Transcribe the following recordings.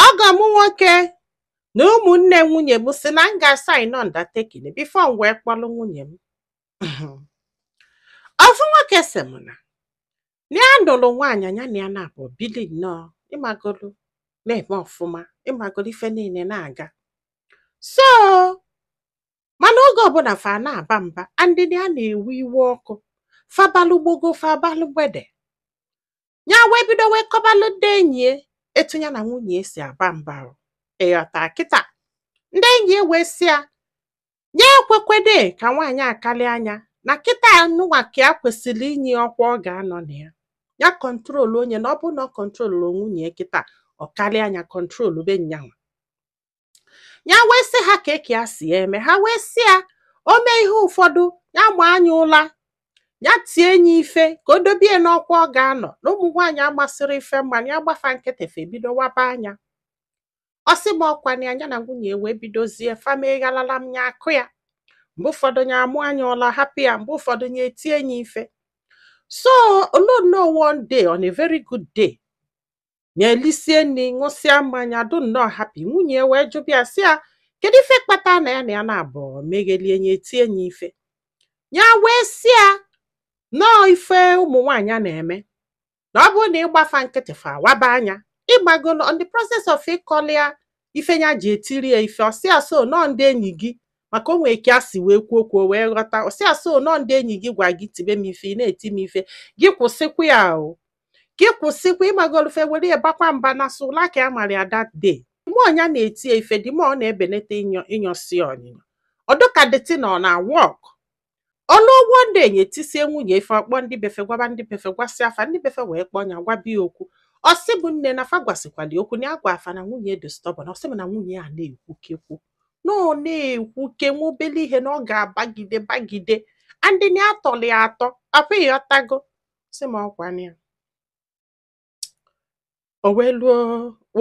ọgọ m nwoke na ụmụnne nwunye m sị na m ga-asain undertaking before m wee kpọrọ nwunye m ofu nwoke sị m na na ya nụrụ nwaanyị nya na ya naabọ bili nnọọ ị magolu na-eme ọfụma ị magolu ife niile na-aga so mana oge ọbụla fa na-aba mba and na ya na-ewe iwe ọkụ fa balụ gbogo fa balụ gbede ya wee bido wee kọbalụ ndị enyi ya etu ya na nwunye ya si aba mba o. ị ghọta kịta ndị enyi ya wee sị ya ya ekwekwede ka nwaanyị a kalịa nya na kịta anụnwa ka ya kwesịrị inye ya ọkwa ọ ga-anọ na ya ya kọntrolụọ nye na ọ bụrụ na ọ kọntrolụrọ nwunye ya kịta ọ kalịa nya kọntrolụbe nya nwa ya wee sị ha ka eke ya si ya eme ha wee sị ya o mee ihe ụfọdụ ya maa nya ụla ya tie nye ife ka o dobe ya n'ọkwa ọ ga-anọ na ụmụ nwaanyị amasịrị ife mana ya gba fa nkịtị fe ebido waba anya ọ sị m ọkwa na nya na nwunye wee bidozie fa mee ghalalam ya akụọ ya mgbe ụfọdụ ya amaa nya ụla hapụ ya mgbe ụfọdụ ya etie nye ife so o luo nnọọ one day on a very good day ya elisie nri ṅụsịa mmanya dụ nnọọ happy nwunye wee jụba ya sị ya kedu ife kpata na ya na ya naabọ meghelie nye etie nye ife ya wee sị ya na ọọ ife ụmụ nwaanyị na-eme na ọ bụrụ na ị gba fa nkịtị fa waba anya ị magolu on the process of ịkọlị ya ife nya ji etiri ya ife ọ sị ya so na ọọ ndị enyi gị maka o nwee ka a si wee kwuo okwu o wee ghọta ọ sị ya so na ọọ ndị enyi gị gwa gị tibe m ife ị na-eti m ife gị kwụsịkwa ya o gị kwụsịkwa ị magolu fe were ya bakwa mba na sọ ụla ka ya mara ya that day mgbe nya na-eti ya ife dị ma ọ na-ebenete ịnyọ ịnyọsi ọnyịnyọ ọ dụ ka the thing ọ na-awọk o nwee ugbo ndị nye etisie nwunye ife ọ kpọọ ndị be fe gwaba ndị be fe gwasịa fa ndị be fe wee kpọọ nya gwaba ya okwu ọ sị mụ nne na fa gwasịkwali okwu na ya gwa fa na nwunye dị stubborn ọ sị mụ na nwunye ya na-ekwuke okwu na ọ na-ekwuke nwa obele ihe na ọ ga-abagide bagide and na atọli atọ apụ ị ghọtago sị m ọkwa ya o wee luo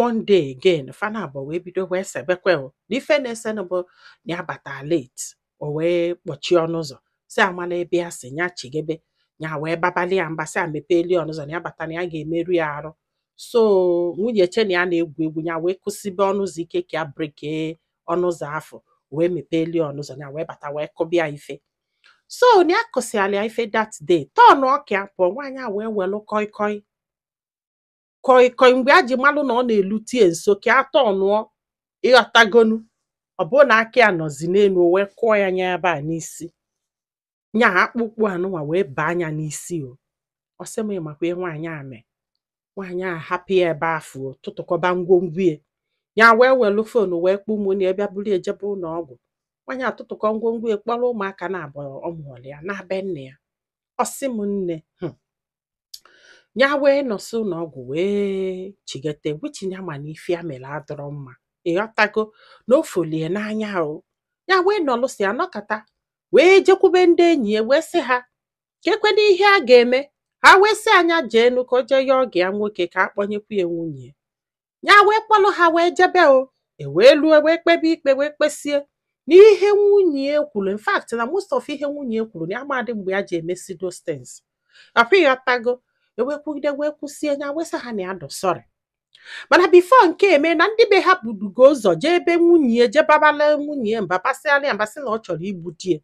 one day again fa naabọ wee bido wee sebekwe o na ife na-esenụ bụ na ya bata late o wee kpọchie ọnụ ụzọ sị ya mala ebe ya si ya chigebe ya wee babali ya mba sị ya mepeeli ọnụ ụzọ na ya bata na ya ga-emerụ ya arụ so nwunye che na ya na-egwu egwu ya wee kụsibe ọnụ ụzọ ike ka ya breke ọnụ ụzọ afụ o wee mepeeli ọnụ ụzọ ya wee bata wee kụba ya ife so na ya kụsịala ya ife that day tọnụọ ka ya pụọ nwaanyị a wee welụ koi koi koi koi mgbe ya ji malụ na ọ na-elute ya nso ka ya tọnụọ ị ghọtagonu ọ bụrụ na aka ya nọzi n'elu o wee kụọ ya nya ebe a n'isi nya akpụkpụ anụnwa wee baa nya n'isi o ọ sị m ị makwa ihe nwaanyị a mee nwaanyị a hapụ ya ebe afụ tụtụkọba ngwongwo ya ya wee welu fon wee kpọọ ụmụnne ya bịa buru ya jebe ụlọ ọgwụ nwaanyị atụtụkọ ngwongwo ya kpọrọ ụmụaka naabọ ọ mụọrọ ya naa be nne ya ọ sị m nne hmm. ya wee nọsị ụlọ ọgwụ wee chigete which nya ma na ife ya mere adịrọ mma ịghọtago na ọ fụlụ ya n'anya o ya wee nọlụsịa nọkata wee jekwube ndị enyi ya wee sị ha kekwanụ ihe a ga-eme ha wee sị ya nya jeenụ ka o jee yọọ ọgọ ya nwoke ka a kpọnyekwu ya nwunye ya wee kpọlụ ha wee jebe o e wee lue wee kpebe ikpe wee kpesie na ihe nwunye ya kwuru in fact na most of ihe nwunye ya kwuru na ya amadị mgbe ya ji emesi those things ọkwa ịghọtago e wee kwugide wee kwụsie nya wee sị ha na ya dị sorry mana before nke a eme na ndị be ha budugo ụzọ jee ebe nwunye ya jee babala nwunye ya mba basịala ya mba sị na ọ chọrọ igbu di ya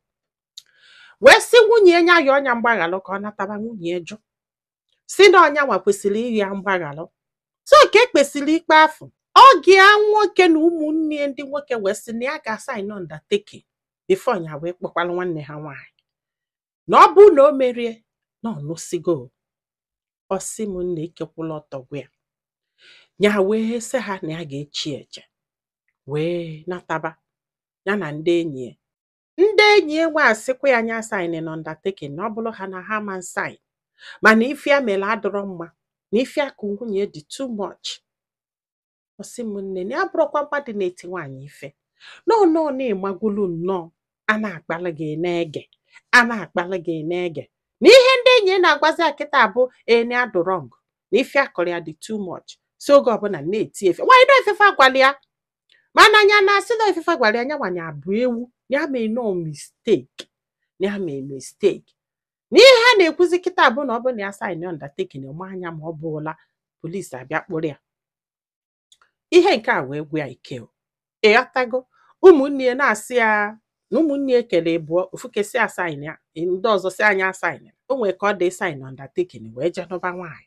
wee sị nwunye ya ya yọọ nya mgbaghalụ ka ọ nataba nwunye ya jụ sị na ọ nyanwa kwesịrị ịrịọ ya mgbaghalụ so ka e kpesịrị ikpe afụ ọgọ ya nwoke na ụmụnne ya ndị nwoke wee sị na ya ga-asain undertaking before ya wee kpọkwala nwanne ha nwaanyị na ọ bụrụ na o merie na ọ nụsịgo ọ sị m nne ike kwụlụ ọtọ gwụ ya ya wee sị ha na ya ga-echi eche wee nataba ya na ndị enyi ya ndị enyi ya nwa asịkwa ya nya asainna undertaking na ọ bụrụ ha na ha ama sain mana ife ya mere adịrọ mma na ife ya kụ nwunye dị too much ọ sị m nne na ya abụrọkwa mmadụ na-eti nwaanyị ife nọọ nọọ na-emagwulu nnọọ a na-akpali gị na-ege a na-akpali gị na-ege na ihe ndị enyi ya na-agwazi ya kịta bụ na ya dị wrong na ife ya kụrụ ya dị too much si oge ọbụla na-eti ife nwaanyị na efefe agwala ya mana anya na-asị na ife gwara ya nyanwa ya bụ ewu ya mee no mistake ya mee mistake na ihe ha na-ekwuzi kịta bụ na ọ bụ na ya saịn undertaking ma anya ma ọ bụla polisi abịa kpụrụ ya ihe nke a wee gwụ ya ike o. ịghọtago ụmụnne ya na-asị ya na ụmụnne ya kere ibụọ ofu nke sị ya saịn ya ndị ọzọ sị ya nya asaịnna. o nwere ka ọ dị ịsaịn undertaking wee jee nụba nwaanyị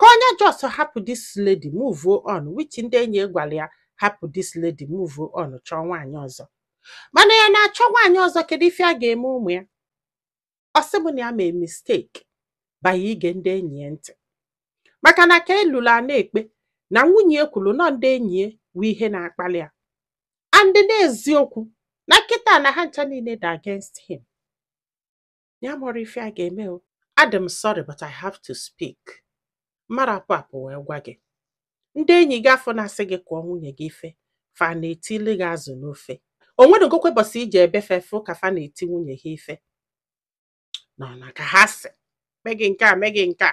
ka onye just hapụ this lady move on which ndị enyi gwara ya hapụ this lady move on chọọ nwaanyị ọzọ mana ya na-achọ nwaanyị ọzọ kedu ife a ga-eme ụmụ ya ọ sị m na ya mee mistake banye ige ndị enyi ya ntị maka na ka e lulu a na-ekpe na nwunye ya kwuru na ọ ndị enyi ya wụ ihe na-akpali ya and n'eziokwu na kịta na ha ncha niile dị against him ya mụrụ ife a ga-eme o adị m sorry but I have to speak mara apụ apụ wee gwa gị ndị enyi gị afụ na-asị gị kụọ nwunye gị ife fa na-etili gị azụ n'ofe o nweregokwa ụbọsị i jee be fa fụ ka fa na-eti nwunye ha ife nọ na ka ha sị mee gị nke a mee gị nke a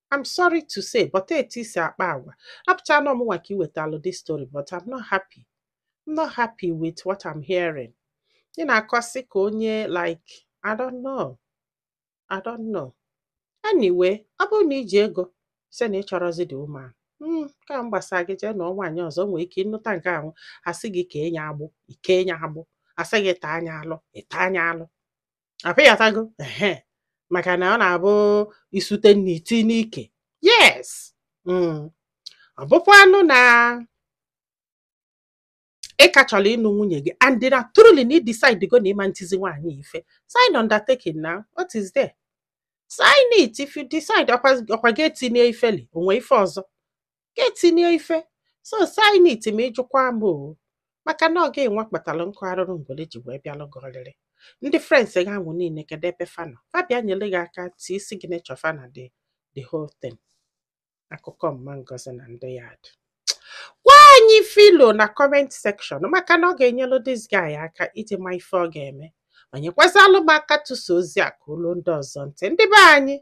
I'm sorry to say but etu isi akpa agwa apụcha na ọ mụnwa ka i wetalụ this story but I'm not happy I'm not happy with what I'm hearing ị na-akọsị ka onye like I don't know I don't know anyway ọ bụrụ na i ji ego sị na ị chọrọzi the woman hmm, ka m gbasa gị jee nụọ nwaanyị ọzọ nwee ike ịnụta nke ahụ asị gị kee nya agbụ i kee nya agbụ asị gị taa nya alụ ị taa nya alụ abi ị ghọtago ehe maka na ọ na-abụ isute nna iti n'ike yes mm. ọ bụkwanụ na ị ka chọrọ ịnụ nwunye gị and na truly na ị decide go na ị ma-etizi nwaanyị ife sign undertaking na what is there sign it if you decide ọkwa ị ga-eti nya ife o nwe ife ọzọ ga-eti nya ife so sign it ma ịjụkwa m o maka na ọ gịnwa kpatara nkụ arụrụ ngwere ji wee bịalụ gị ọlịlị ndị friends gị ahụ niile kedu ebe fa nọ fa bịa nyere gị aka tie isi gị nechọ fa na the whole thing akụkọ mama ngozi na ndị yard gwa anyị ife i lo na comment section maka na ọ ga-enyelụ this guy aka iji ma ife ọ ga-eme ma nyekwazịlụ m aka tụsa ozi a ka o luo ndị ọzọ ntị ndị be anyị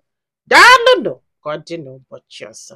daalụnụ ka ọ dị n'ụbọchị ọzọ